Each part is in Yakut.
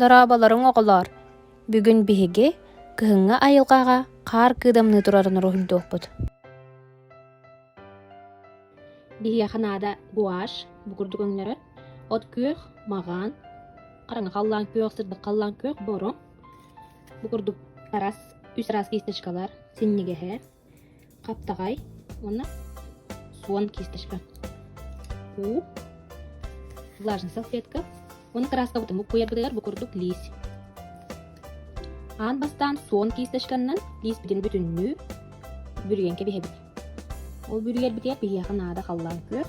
Дорооболоруҥ оҕолоор! Бүгүн биһиги кыһыҥҥы айылҕаҕа хаар кыыдамныы турарын уруһуйдуохпут. Биһиэхэ наада гуашь, бу курдук өҥнөрөр. От күөх, маҕан, хараҥа халлаан күөх, сырдык халлаан күөх, боруҥ. Бу курдук тарас, үс раз кисточкалар, синньигэһэ, Хаптаҕай уонна суон кииртэрбэт. Уу, влажная салфетка уонна тырааскабытын буккуйарбытыгар бу курдук лиис. Аан бастаан суон киисточканнан лииспитин бүтүннүү бүрүйэн кэбиһэбит. Ол бүрүйэрбитигэр биһиэхэ наада халлаан күөх,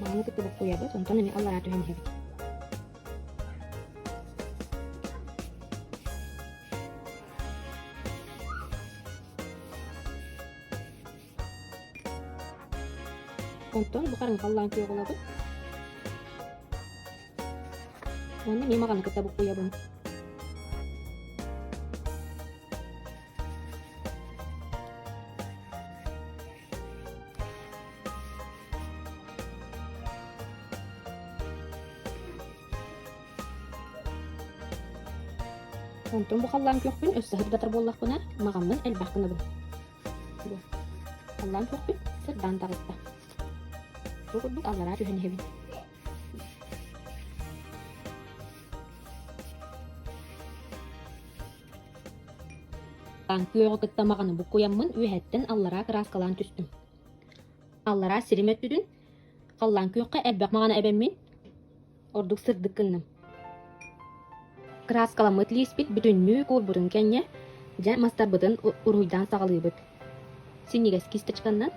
Маныы кытта буккуйабыт, онтон эмиэ аллараа түһэн иһэбит Онтон бу хараҥа халлаан күөҕулабын. Уонна миэмаҕаны кытта буккуйабын. Онтон бу халлаан көхпүн өссө сырдатар буоллахпына, мағаммын элбэх гынабын. Халлаан көхпүн сырдаан таҕыста. Бу курдук аллараа түһэн иһэбин. Күөҕү кытта маҕаны буккуйаммын үөһэттэн аллараа кырааскалаан түстүм Аллараа сирим өттүтүн халлаан күөххэ элбэх маҕаны эбэммин, ордук сырдык гынным Кырааскаламмыт лииспит бүтүннүү куурбутун кэннэ, дьэ мастарбытын уруһуйдаан саҕалыыбыт Синньигэс кисточканнан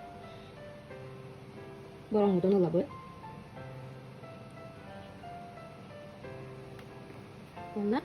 бороҥҥутун ылабыт Уонна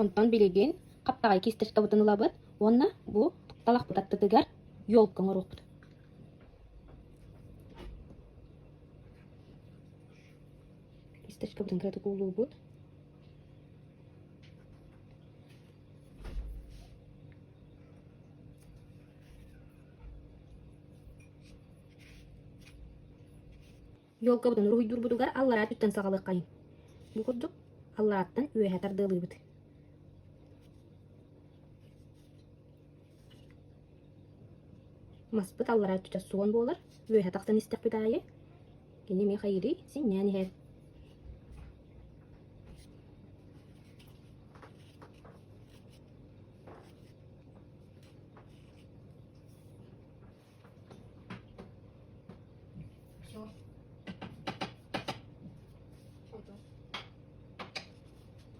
Онтон билигин хаптаҕай кисточкабытын ылабыт уонна бу тукталахпыт аттытыгар елка оҥоруохпут. Кисточкабытын кыратык уулуубут. Елкабытын уруһуйдуурбутугар аллараа өттүттэн саҕалыаххайын. Бу курдук алларааттан үөһэ тардыалыыбыт. Маспыт аллараа өттүтэ суон буолар, үөһэ тахсан истэхпит аайы, кини миэхэ ири синньээн иһэр.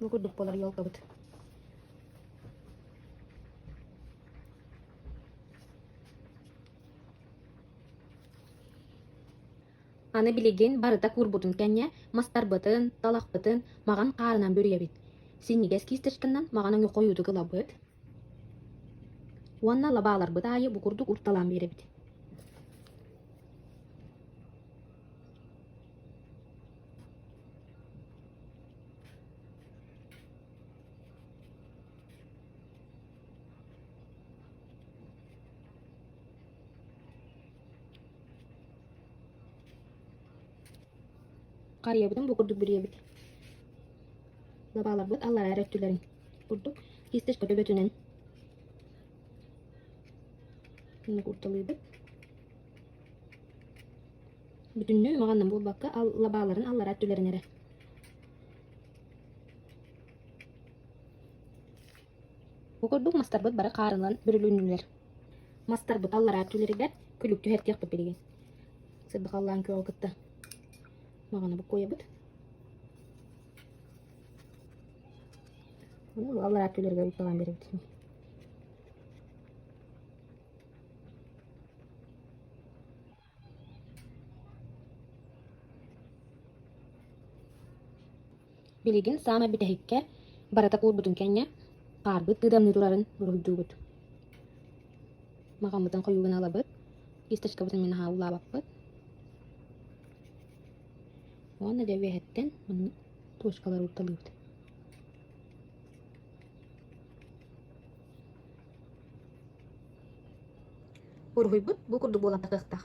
Ну курдук болар ялкабыт. Аны билигин барыта куурбутун кэннэ мастарбытын, талахпытын маҕан хаарынан бүрүйэбит, синньигэс кисточканан маҕаны ньукхойуутук ылабыт уонна лабааларбыт аайы букурдук уурталаан биэрэбит Харыйабытын бу курдук бүрүйэбит. Лабааларбыт аллараа эрэ өттүлэрин курдук кистич көтөгөтүнэн нугурталыыбыт. Бүтүннүү маҕанна буолбакка лабааларын аллараа өттүлэрин эрэ Бу курдук мастарбыт бары хаарылан бүрүлүннүлэр. Мастарбыт аллараа өттүлэригэр күлүк түһэртиэхпит билигин. Сырдыкаллаан көҕө кытта маҕаны буккуойабыт. Ону аллараа өттүлэригэр ыйталаан биэрэбит ини. Билигин саамай бүтэһиккэ барыта куурбутун кэннэ хаарбыт ыытамныы турарын уруһуйдуубут. Махаммытын хойуугун ылабыт, кисточкабытын мин аһаа улаабаппыт. Уонна дьэ үөһэттэн туочкалары уурталыыбыт. Уруһуйбут бу курдук буолан такыахтаах